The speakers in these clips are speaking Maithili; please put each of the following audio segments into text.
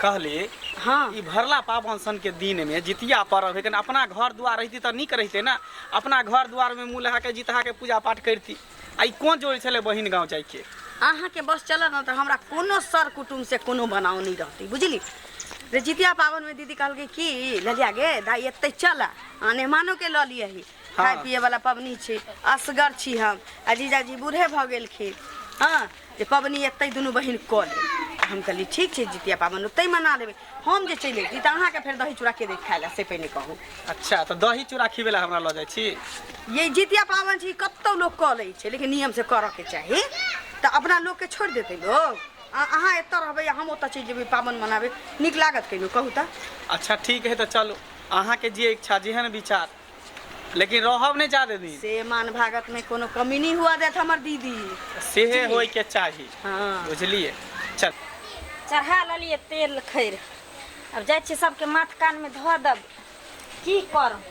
कहली हँ ई भरला पाबन सन के दिन में जितिया पर्व है कने अपना घर द्वार रहती तऽ नीक रहते ना अपना घर द्वार में मुँह लगा के जितहा के पूजा पाठ करती आ ई कोन जोड़ छले बहिन गाँव जाय के अहाँके बस चलत ने तऽ हमरा कोनो सर कुटुम से कोनो बनाव नहि रहतै बुझली जे जितिया पाबनिमे दीदी कहलकै कि ललिया गे दाइ एतै चल आ नेहमानोके लऽ लियही खाय पिए वाला पबनी छै असगर छी हम आ जीजाजी बूढ़े भऽ गेलखिन हँ जे पबनी एतै दुनू बहिन कऽ ले आ हम कहलियै ठीक छै जितिया पाबनि ओतै मना लेबै हम जे चलि अयती तऽ अहाँके फेर दही चूड़ा के देत खाय लए से पहिने कहू अच्छा तऽ दही चूड़ा खिबै लए हमरा लऽ जाइ छी ये जितिया पाबनि छै ई कतौ लोक कऽ लै छै लेकिन नियम से करऽ के चाही तऽ अपना लोक के छोड़ि देतै लोग आ अहाँ एतऽ रहबै आ हम ओतऽ चलि जेबै पाबनि मनाबै नीक लागत कहियो कहू तऽ अच्छा ठीक है तऽ चलू अहाँके जे इच्छा जेहन विचार लेकिन रहब नहि जादे दिन से मान भागत में कोनो कमी नहीं हुआ देत हमर दीदी सेहे होय के चाही हाँ बुझलिए चल चढ़ा लेलिए तेल खैर अब जाइ छियै सबके माथ कान में धऽ देब की करब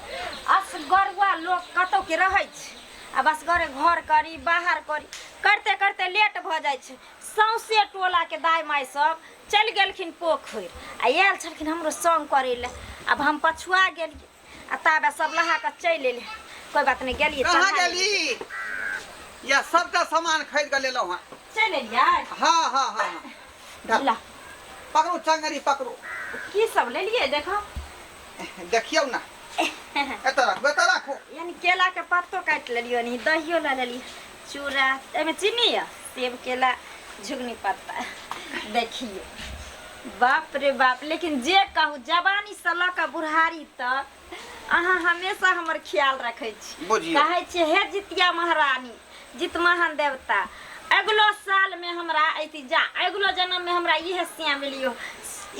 असगरुआ लोक कतौ के रहै छै अब असगरे घर करी बाहर करी करते करते लेट भऽ जाइ छै सौंसे टोला के दाय माय सब चलि गेलखिन पोखरि आ आयल छलखिन हमरो संग करै लए अब हम पछुआ गेलियै आ ताबे सब लहा के चलि एले कोई बात नहीं गेलिए कहाँ गेली या सबटा सामान खरीद के लेलहुँ हँ चल एलिए हाँ हाँ हाँ हाँ धर। ला पकड़ू चंगरी पकड़ू की सब ले लिए देखो देखियौ ना एतऽ राखू एतऽ राखू यानी केला के पत्तो काट लेलियो नहीं दहियो ला लेलिए चूड़ा एहिमे चीनी यऽ सेब केला झुगनी पत्ता देखिए बाप रे बाप लेकिन जे कहू जवानी से लऽ कऽ बुढ़ारी तक अहाँ हमेशा हमर ख्याल रखे छी बुझियौ। कहै छियै हे जितिया महारानी जित महान देवता अगिलो साल में हमरा अति जा अगिलो जन्म में हमरा इहे सिया मिलियो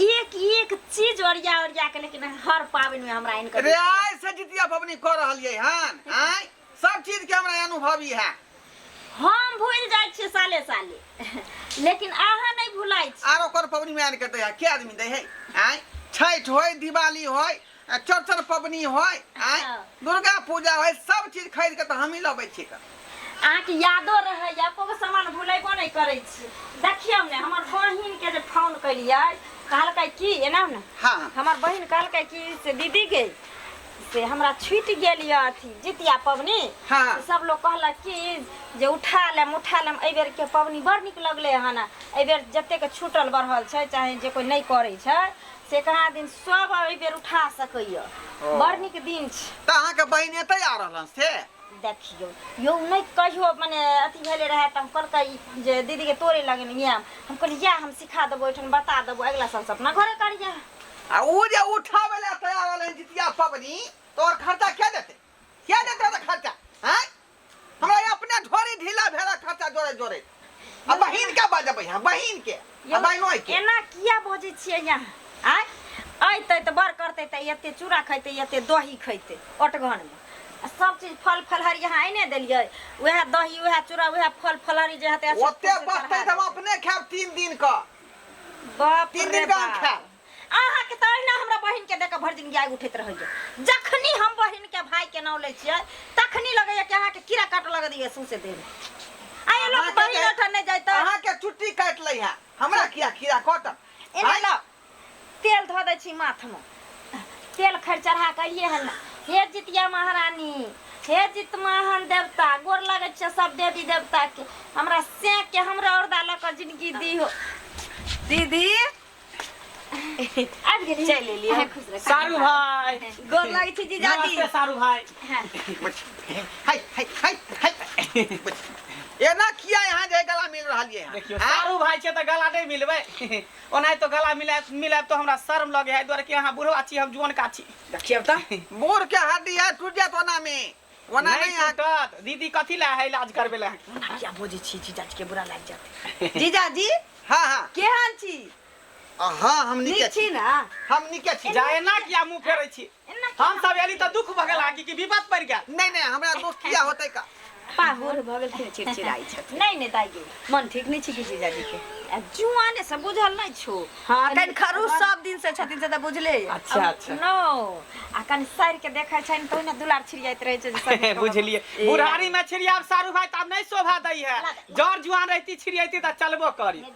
एक एक चीज ओरिया ओरिया के लेकिन हर पाबनि में हमरा इनकर रे आइ से जितिया पबनी कऽ रहलियै हन आँय सब चीज के हमरा अनुभव इहे हम भूल जाय छी साले साले लेकिन अहाँ नहीं भुलाय छी आरो कोन पबनी में आन के दे है के आदमी दे है आय छठ होय दिवाली होय आ चौरचन पबनी होय आय हाँ। दुर्गा पूजा होय सब चीज खरीद के तो हम ही लबै छी क अहाँ के यादो रहे एको गो सामान भुलेबो नहीं करे छी देखियौ ने हमर बहिन के जे फोन कलियै कहलकै की एना ने हां हमर बहिन कहलकै कि से दीदी के से हमरा छूटि गेल यऽ अथी जितिया पबनी हँ। तऽ सब लोग कहलक कि जे उठा लेम उठा लेम एहि बेरके पबनी बड़ नीक लगलै हन एहि बेर जतेक छूटल बढ़ल छै चाहे जे कोइ नहि करै छै से कहाँ दिन सब एहि बेर उठा सकैए ओ। बड़ नीक दिन छै तऽ अहाँके बहिन एतै आ रहलन से देखियौ यौ नहि कहियो मने अथी भेलै रहए तऽ हम कहलकै जे दीदीके तोरे लगन आयब हम कहलियै इएह हम सिखा देबौ ओहिठाम बता देबौ अगिला सालसँ अपना घरे करिहे आ ओ जे उठावे ला तैयार रहलन जितिया पबनी तो और खर्चा क्या देते क्या देते तो खर्चा हैं हमरा ये अपने ढोरी ढीला भेला खर्चा जोरे जोरे आ बहिन के बजबै हम बहिन के आ बहिनो के एना किया बजै छियै यहाँ आय अयतै तऽ बड़ करतै तऽ एते चूड़ा खैतै एते दही खैतै ओटघनमे आ सब चीज फल फलहरी यहाँ आइने देलियै उएह दही उएह चूड़ा उएह फल फलहरी जे हेतै ओते बचतै तऽ हम अपने खाएब तीन दिन क बाप तीन रे दिन गाम बाप खाएब। अहाँ के त अहिना हमरा बहिन के देख भरि दिन गाय उठैत रहै छै जखनी हम बहिन के भाई के नाम लै छियै तखनी लगैया कि अहाँ के कीड़ा काट लग दिए सौंसे देह में। आ ये लोग अहाँके बहिन जे- ओठन नहि जाइत अहाँ के छुट्टी काट लै है हमरा किया किया कटत एना लो तेल धऽ दै छी माथमे तेल खरि चढ़ा कऽ अलियै हन हे जितिया महारानी हे जित महान देवता गोर लगै छियै सब देवी देवताके हमरा सेके हमरा औरदा लऽ कऽ जिनगी दी हो दीदी आबि गेली चलि एलियै। अहाँ खुश रहू। सारू भाई गोर लगै छी जीजाजी नमस्ते सारू भाई हाँ। हाय हाय हाय हाय एना किया यहाँ जे गला मिल रहल ये देखियो सारू भाई के तो गला नहीं मिलबे ओनाहितो गला मिलाय मिलायब तो हमरा शर्म लगे है द्वारे कि अहाँ बुढ़वा छी हम जुअन का छी देखियब त बूढ़ के हड्डी है टूट जात ओना में ओना नहीं नहीं टूटत दीदी कथी ला है इलाज करबे ला ओना किया बोजै छी जीजाजी के बुरा लागि जात जीजाजी हां हां केहन छी हां हम नीक छी ना हम नीक छी जाए ना किया मुंह फेरै छी हम सब एली त दुख भगल आकि कि विपत पड़ गेल नहीं नहीं हमरा दुख किया होते का पाहुर भऽ गेलखिन चिड़चिड़ाइ छथिन नहीं नहीं दाई मन ठीक नहीं छी कि जीजाजी के आ जुआने से बुझल नहीं छो हां कन खरूस सब दिन से छथिन से त बुझले ये। अच्छा अच्छा नो आ कन सर के देखै छैन तो ने दुलार छिड़ियाइत रहै छै जे सर के बुझलिए बुढ़ारी में छिड़ियाब सारू भाई त आब नहीं शोभा दै है जड़ जुआन रहती छिड़ियती त चलबो करी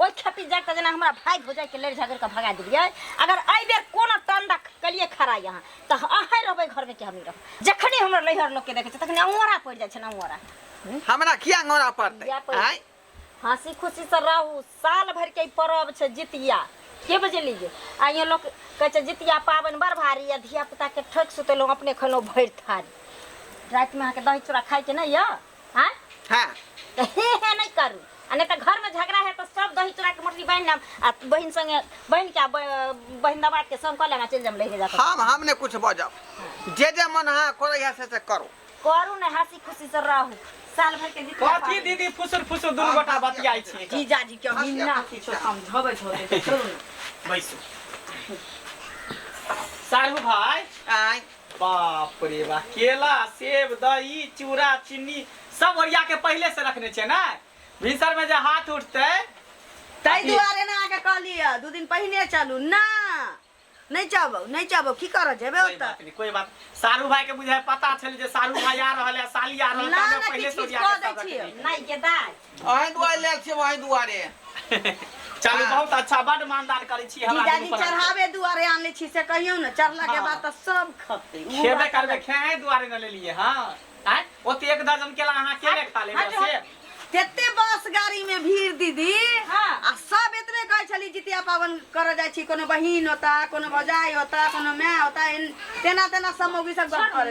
ओहि खेपी जाग तऽ जेना हमरा भाय भौजाइके लड़ि झगड़ि कऽ भगा देलियै अगर एहि बेर कोनो टंडा कलिए खड़ा यहाँ तऽ अहाँ रहबै घरमे कि हमी रहब जखने हमरा लैहर लोकके देखै छै तखने अङोरा पड़ि जाइ छै ने अङोरा हमरा किया अङोरा पड़तै किया पड़तै? आँय? हँसी खुशी से रहू साल भर के ई पर्व छै जितिया के बजलियै आ यहाँ लोग कहै छै जितिया पाबनि बड़ भारी या धिया पुता के ठोकि सुतेलहुँ अपने खनो भरि थारी रातिमे अहाँके दही चूड़ा खाइके नहि यऽ हाँ हाँ तो हे हे नहीं करू आ नहीं तो घर में झगड़ा है तो सब दही चूड़ा के मोटरी बहन नाम आ बहन संगे बहन के आ ब- बहन दबा के सब कह लेना चल जम लेके जाते हम हम ने कुछ बजब जे जे मन हाँ करे है से से करो करू ने हंसी खुशी से रहू साल भर के जितना कथी पाबनि- दीदी फुसुर फुसुर दुनू गोटा बतियाइ छी जीजा जी के अभी ना किछो समझबै छोड़े के छोड़ू ने बैसू सारू भाई आय बाप रे बा केला सेब दही चूड़ा चीनी सब ओरिया के पहले से रखने छे ना भिनसर में जे हाथ उठते ताहि दुआरे ने अहाँके कहलियै दू दिन पहिने चलू ना नहि चबौ नहि चबौ की करऽ जेबै कोई ओतऽ बात नहीं कोई बात सारू भाई के बुझाए पता छल जे सारू भाई आ रहल है साली आ रहल ना, है ना, पहले किछु से किछु ओरिया कऽ के दै सब छियै। रखने। नहीं के दाय अहीं दुआरे लेल छियै अहीं दुआरे चलू हाँ। बहुत अच्छा बड मानदान करै छी हमरा जीजाजी चढ़ावे दुआरे आनले छी से कहियो ने चढ़ला के हाँ। बाद त सब खते खेबे करबे खेहे दुआरे न लेलिए हां आय ओते एक दर्जन केला अहाँ के ले खा लेबे से तेते बस गाड़ी में भीड़ दीदी हाँ। आ सब इतने कहे छली जितिया पावन कर जाय छी कोनो बहिन होता कोनो भजाई होता कोनो माय होता तेना तेना समोगी सब गप करे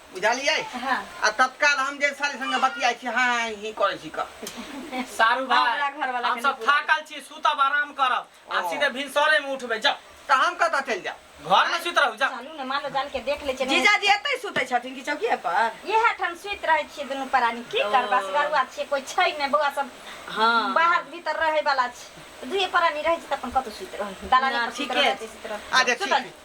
बुझलियै हाँ आ तत्काल हम जे साली संगे बतियाइ छी हाँ हाँ ही करै छी क सारू भाई हमरा घरवाला हम के सब नहीं बुलाएब। थाकल छी सुतब आराम करब आ ओ। सीधे भिनसरे में उठबे जा तऽ हम कतऽ चलि जायब घर में सुत रहू जा चलू ने मालो जाल के देख ले चलू जीजाजी एतै सुतै छथिन कि चौकिए पर इहे ठाम सुति रहै छियै दुनू प्राणी की ओ। करबा सगरुआ छियै कोई छै ने बौआ सब हाँ बाहर भीतर रहै वाला छै दुए प्राणी रहै छै तऽ अपन कतौ सुति रहै दलाने ना, पर सुति ठीके रहै छै। छै सुति रहै आ जे सुतल ठीक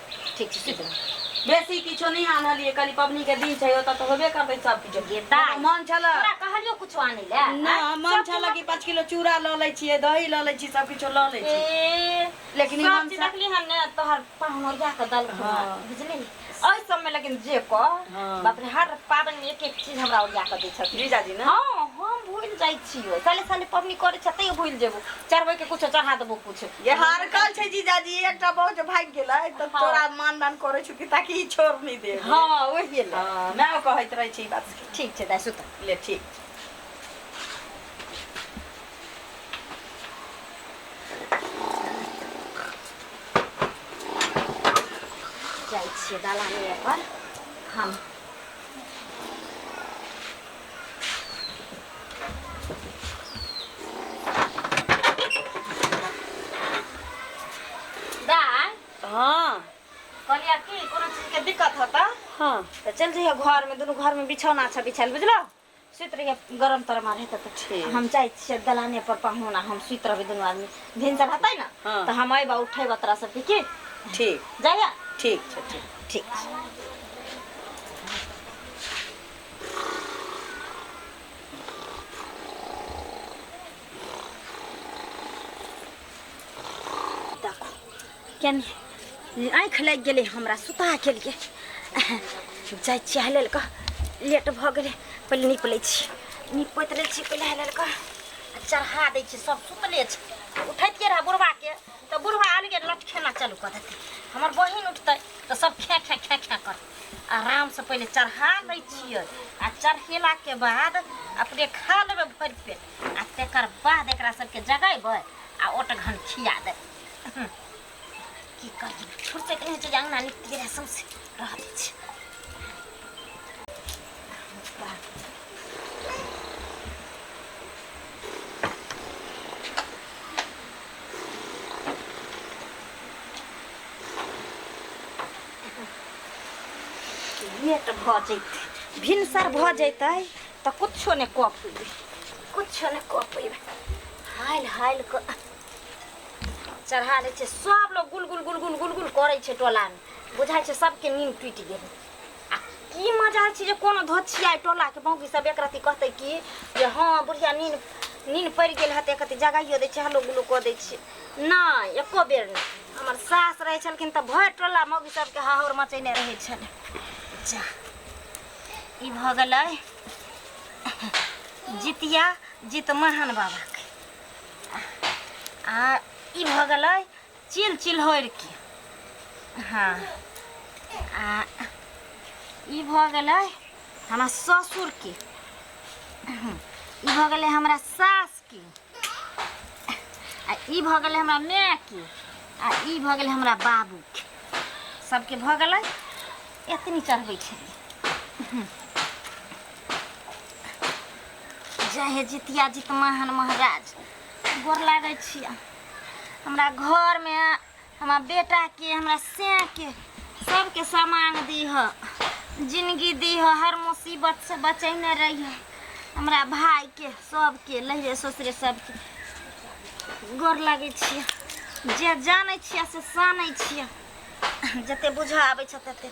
ठीक छै सुति रह बेसी किछो नहि आनलियै कनि पबनी के दिन छै ओतऽ तऽ होबे करतै सब किछो गे दाइ। हमरा मन छलऽ तोरा कहलियो कुछो आनै लए ना आँय? मन सब छलऽ कि पाँच किलो चूड़ा लऽ लै छियै दही लऽ लै छी सब किछो लऽ लै छी ए, लेकिन ई सब मन चीज सा- देखली हन ने तोहर पहमरिया के दल हाँ। बुझली एहि सबमे लेकिन जे कह हाँ। बाप रे हर पाबनि मे एक एक चीज हमरा ओरिया कऽ दै छथिन जीजाजी ने हँ हम भूलि जाइ छियो साले साले पबनी करै छ तैयो भूलि जेबो चढ़बै के कुछो चढ़ा देबो कुछ ये हरकल छै जीजाजी एकटा बहु जे भागि गेलै तऽ हाँ। तोरा मानदान करै छौ कि ताकि ई छोड़ नहि दे हँ ओहिए ले हाँ, मैं ओ कहैत रहै छी ई बात के। ठीक छै दाइ सुत ले ठीक छै। जाइ छियै दलाने पर हम दाय हाँ कहलिया की कोनो चीज के दिक्कत होता हाँ तो चल जइहे घर में दुनू घर में बिछौना अच्छा बिछायल बुझलो सुत रहिए गरम तर मारे तो ठीक। हम जाइ छियै दलाने पर पहुना हम सुत रहबै दुनू आदमी भिनसर हतै न हाँ। तो हम अइबा उठेबा तोरा सबके की ठीक जाइए ठीक छै ठीक ठीक छै कनि आँखि लागि गेलै हमरा सुता केलिए जाइ छियै हेलल कऽ लेट भऽ गेलै पहिले नीप लै छी नीपैत लै छी पहिले हेलल कऽ चढ़ा दै छी सब सुतले छै उठैतिए रहै बुढ़बाके तऽ बुढ़बा अलगे लटखेना चलू कऽ देतै हमर बहिन उठतै तऽ सब खे खे खे खे करतै आराम से पहले चढ़ा लै छियै आ चढ़ेला के बाद अपने खा लेबै भरि पेट आ तेकर बाद एकरा सबके जगेबै आ ओटघन खिया देबै की करी फुर्सत नहि छै जे अंगना निकलि गेलै सौंसे रहत छै ये तऽ भऽ जैतै भिनसर भऽ जैतै तऽ कुछो नहि कऽ पयबै कुछो नहि कऽ पयबै हालि हालि कऽ चढ़ा दै छै सभ लोग गुलगुल गुलगुल गुलगुल करै छै टोलामे बुझाइ छै सभके नीन टूटि गेलै आ की मजा छै जे कोनो धोछिया टोलाके बाँकी सभ एक रत्ती कहतै कि जे हँ बुढ़िया नीन नीन पड़ि गेल हेतै कते जगाइयो दै छै हलो गुलो कऽ दै छै नहि एको बेर नहि हमर सास रहै छलखिन तऽ भरि टोला मौगी सबके हाहौर मचेने रहै छलै जा ई भऽ गेलै जितिया जितमहन बाबाके आ ई भऽ गेलै चिल चिल्होरिके हँ आ ई भऽ गेलै हमरा ससुरके ई भऽ गेलै हमरा सास आ ई भऽ गेलै हमरा मायके आ ई भऽ गेलै हमरा बाबूके सबके भऽ गेलै एतनी चढ़बै छै जय हे जितिया जित महान महाराज गोर लागै छियै हमरा घरमे हमरा बेटा के हमरा से के सबके सामान दीह जिंदगी दीह हर मुसीबत से बचैने रहिह हमरा भाई के सबके लहरे ससुरे सबके गोर लागै छियै जे जानै छियै से सानै छियै जते बुझऽ आबै छै तते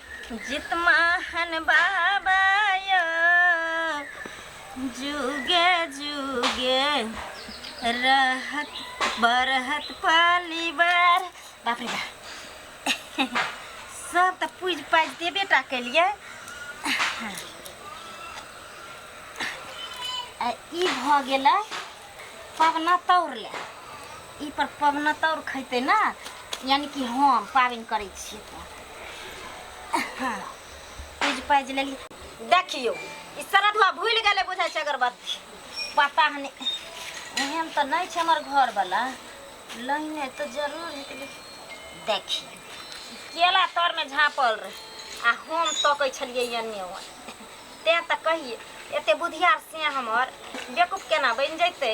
जितमाहन बाबा यो जुगे जुगे रहत बरहत पलिवार बाप रे बाप सब तऽ पूज पाज देबे टा केलियै आ ई भऽ गेलै पवना तौर ले ई पर पवनतौर खैते ना यानी कि हम पाबनि करै छियै तऽ हाँ, पूज पाजि लेली देखियौ ई श्रद्धा भूल गेलै बुझाइ छै अगरबत्ती पता नहि एहन तऽ नहि छै हमर घरवला लहिने तऽ जरूर हेतै लेकिन देखियौ ई केला तरमे झाँपल रहै आ हम तकै छलियै एन्ने ओन्ने तेँ तऽ कहियै एते बुधियार से हमर बेकूफ केना बनि जैतै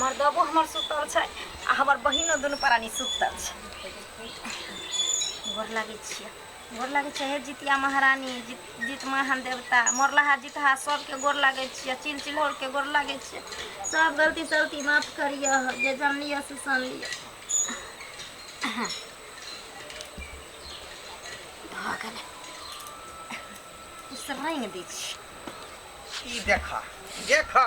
मर्दबो हमर सुतल छै आ हमर बहिनो दुनू प्राणी सुतल छै गोर लागै छियै गोर लागै छै हे जितिया महारानी जीत जीत महान देवता मोरलाहा जितहा सबके गोर लागै छियै चिल चिल्हौरके गोर लागै छियै सब गलती सलती माफ करियह जे जानलियह से सुन लियह भऽ गेलै ई सब रंग दै छियै ई देखा देखा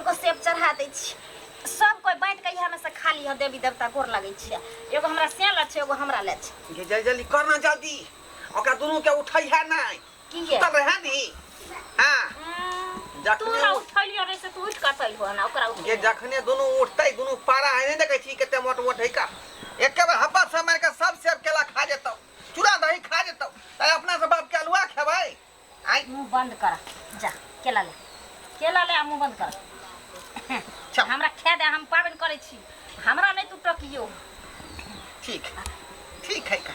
एगो सेब चढ़ा दै छी सब कोई बाँटि कऽ इएहमे से खा लिह देवी देवता गोर लगै छियै एगो हमरा से लै छै एगो हमरा लै छै ये जल्दी जल्दी करना जल्दी ओकरा दुनू के उठै है नहीं की ये तब है नी हाँ हम्म, जखने तू हमरा उ- उठैलियो रे से तू उठि कऽ अतैल हो ना ओकरा ये उठै जखने दुनू उठतै दुनू पारा है नहीं देखै छी कते मोट मोट है का एके बार हप्पा से मार के सब सेब केला खा जेतौ चूड़ा दही खा जेतौ ताहि अपना से बाप के अलुआ खेबै आइ मुँह बन्द कर जा केला ले केला ले आ मुँह बन्द कर चल। हमरा खाए दे हम पाबनि करै छी हमरा नहि तू टकियो ठीक है ठीक है का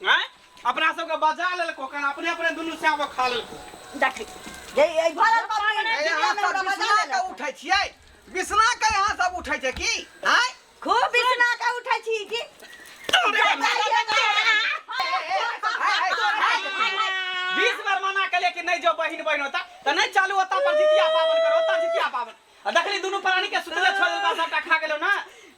आँय अपना सबके बजा लेलको कन अपने अपने दुनू साँप खा लेलको देखी ये ये भरल बाबा ने ए, यहाँ सब बजा बिसना लेलक। के उठै छियै बिसना के यहाँ सब उठै छै की आँय खूब बिसना के उठै छी की बीस बार मना के लेकिन नहीं जो बहिन बहिन होता तो नहीं चालू होता पर जितिया पावन करो होता जितिया पावन आ देखली दुनू प्राणी के सुतले छोड़ देलका सबटा खा गेलो ना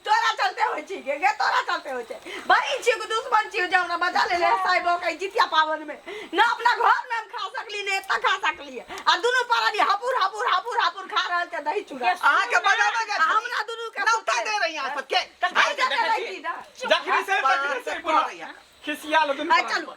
तोरा चलते होइ छी गे गे तोरा चलते होइ छै बहिन छियो कि दुश्मन छियो जे हमरा बचा ले ले साइबो के जितिया पावन में ना अपना घर में हम खा सकली ने एतऽ खा सकली आ दुनू परानी हपुर हपुर हपुर हपुर खा रहल छै दही चूड़ा अहाँ के बजाबे के आ हमरा दुनू के नौता दे रही अहाँ सबके आइ जते रही ना जखनी से तखनी से पूरा खिसिया लो दुनू आई चलू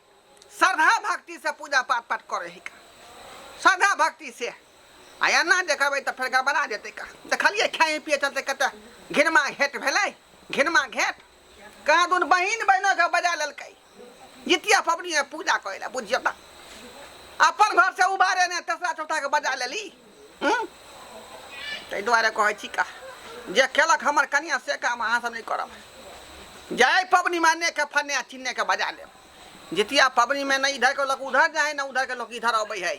श्रद्धा भक्ति से पूजा पाठ पाठ करे ही का श्रद्धा भक्ति से आ एना जे कहबै तऽ फेर गड़बड़ा जेतै का देखलियै खाए पिए चलते कते घिनमा घेट भेलै घिनमा घेट कहाँ दुन बहिन बहिनो के बजा लेलकै जितिया पबनी में पूजा करे ला बुझियो तऽ अपन घर से उबारे ने तेसरा चौथा के बजा लेली हम्म? ताहि दुआरे कहै छी का जे केलक हमर कनिया से काम अहाँ सब नहि करब जाय पबनी माने के फन्ने आ चिन्ने के बजा लेब जितिया पबनी में नहि इधर के लोक उधर जाए ना उधर के लोक इधर अबै है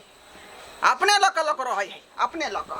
अपने लऽ कऽ लोक रहै है अपने लऽ कऽ